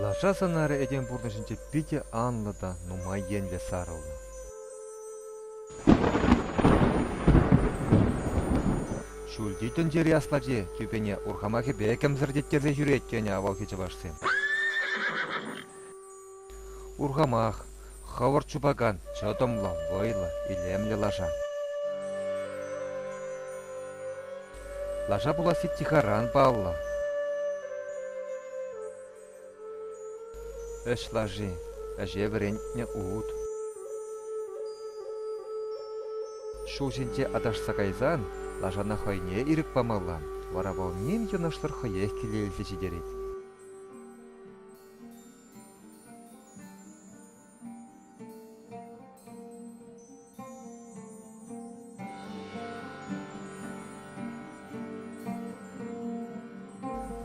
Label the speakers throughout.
Speaker 1: Лаша сӑнарӗ этем пурнӑҫӗнче питӗ анлӑ та нумай енлӗ сарӑлнӑ. Ҫӳлти тӗнчери аслати тӳпене урхамахӗпе кӗмсӗртеттерсе ҫӳрет, тенӗ авалхи чӑвашсем. Урхамах, хӑвӑрт чупакан чӑтӑмлӑ, вӑйлӑ, илемлӗ лаша. Лаша пуласси тихаран паллӑ. Ӗҫ лаши, ӗҫе вӗрентнӗ ут. Ҫул ҫинче аташса кайсан лашана хӑйне ирӗк памалла, вара вӑл ним йӑнӑшсӑр хӑех киле илсе ҫитерет.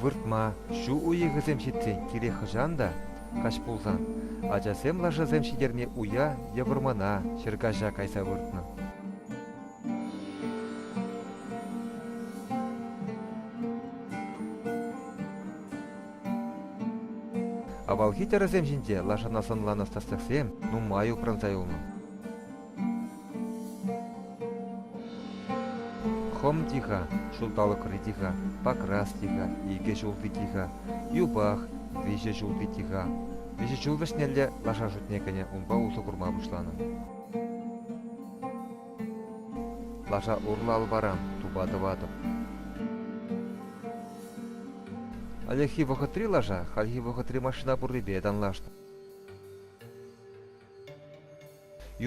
Speaker 1: Выртма, ҫу уйӑхӗсем ҫитсен кирек хӑҫан та, каҫ пулсан, ачасем лашасем ҫитерни уя е вӑрмана, ҫӗркаҫа кайса выртнӑ. Авалхи тӗрӗсем ҫинче лашана сӑнланӑ статсяксем нумай упранса юлнӑ. Хом тиха, ҫулталӑкри тиха, Покрас тиха, икӗ ҫулти тиха, Юпах, виҫӗ ҫулти тиха. Виҫӗ ҫул вӗҫнелле лаша шутне кӗнӗ унпа усӑ курма пуҫланӑ. Лаша урла алпаран тупа тӑватӑп. Ӗлӗкхи вӑхӑтри лаша хальхи вӑхӑтри машина пуррипе танлашнӑ.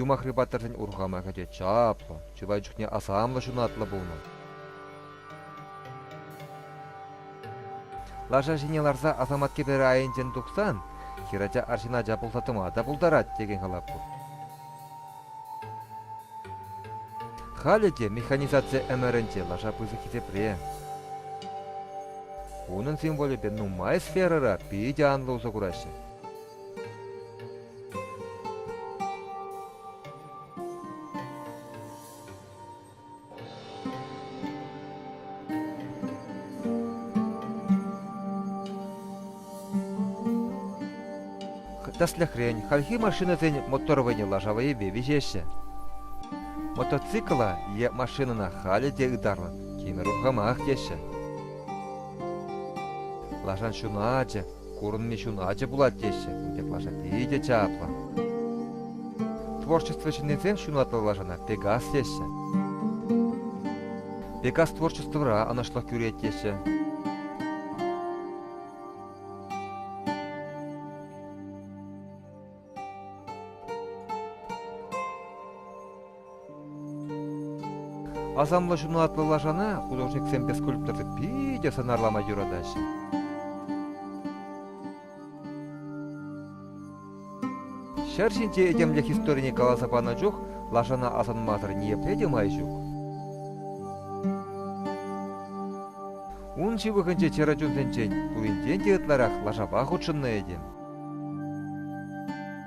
Speaker 1: Юмахри паттӑрсен урхама кӗтет чаплӑ, чылай чухне асамлӑ ҫунатлӑ пулнӑ. Лаша ҫине ларса асамат кӗперӗ айӗнчен тухсан хӗрача арҫын ача пулса тӑма та пултарать текен калап пур. Халӗ те механизаци ӗмӗрӗнче лаша пысӑк хисепре. Унӑн символӗпе нумай сферӑра питӗ анлӑ усӑ кураҫҫӗ. Тӗслӗхрен, хальхи машинӑсен моторвӑйне лашавӑйӗпе виҫеҫҫӗ. Мотоцикла е машинӑна халӗ те ытарлӑн тимӗр урхамах теҫҫӗ. Лашан ҫуначӗ, Курӑнми чун ачи пулать теҫҫӗ, инкек лаша питӗ чаплӑ. Творчество ҫыннисем ҫунатлӑ лашана Пегас теҫҫӗ. Пегас творчествӑра ӑнӑҫлӑх кӳрет теҫҫӗ. Асамлӑ ҫуналтлӑ лашана художниксемпе скульпторсем питӗ сӑнарлама юратаҫҫӗ. Ҫӗр ҫинче этемлӗх историне каласа панӑ чух лашана асӑнмасӑр ниепле те май ҫук. Ун ҫывӑхӗнче чӗрӗ чунсенчен пуринчен те ытларах лашапа хутшӑннӑ этем.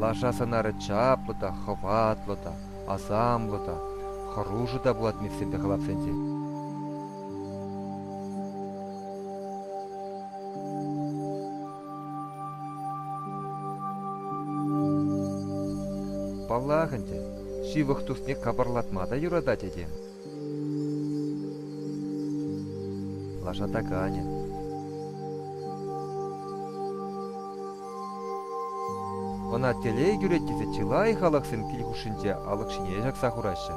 Speaker 1: Лаша сӑнарӗ чаплӑ та, хӑватлӑ та, асамлӑ та, хӑрушӑ та пулать мехсемпе халапсенче. Паллах ӗнтӗ, ҫывӑх тусне капӑрлатма та юратать этем. Лаша таканӗ. Ӑна телей кӳрет тесе чылай халӑхсем кил хушшинче алӑк ҫине ҫакса хураҫҫӗ.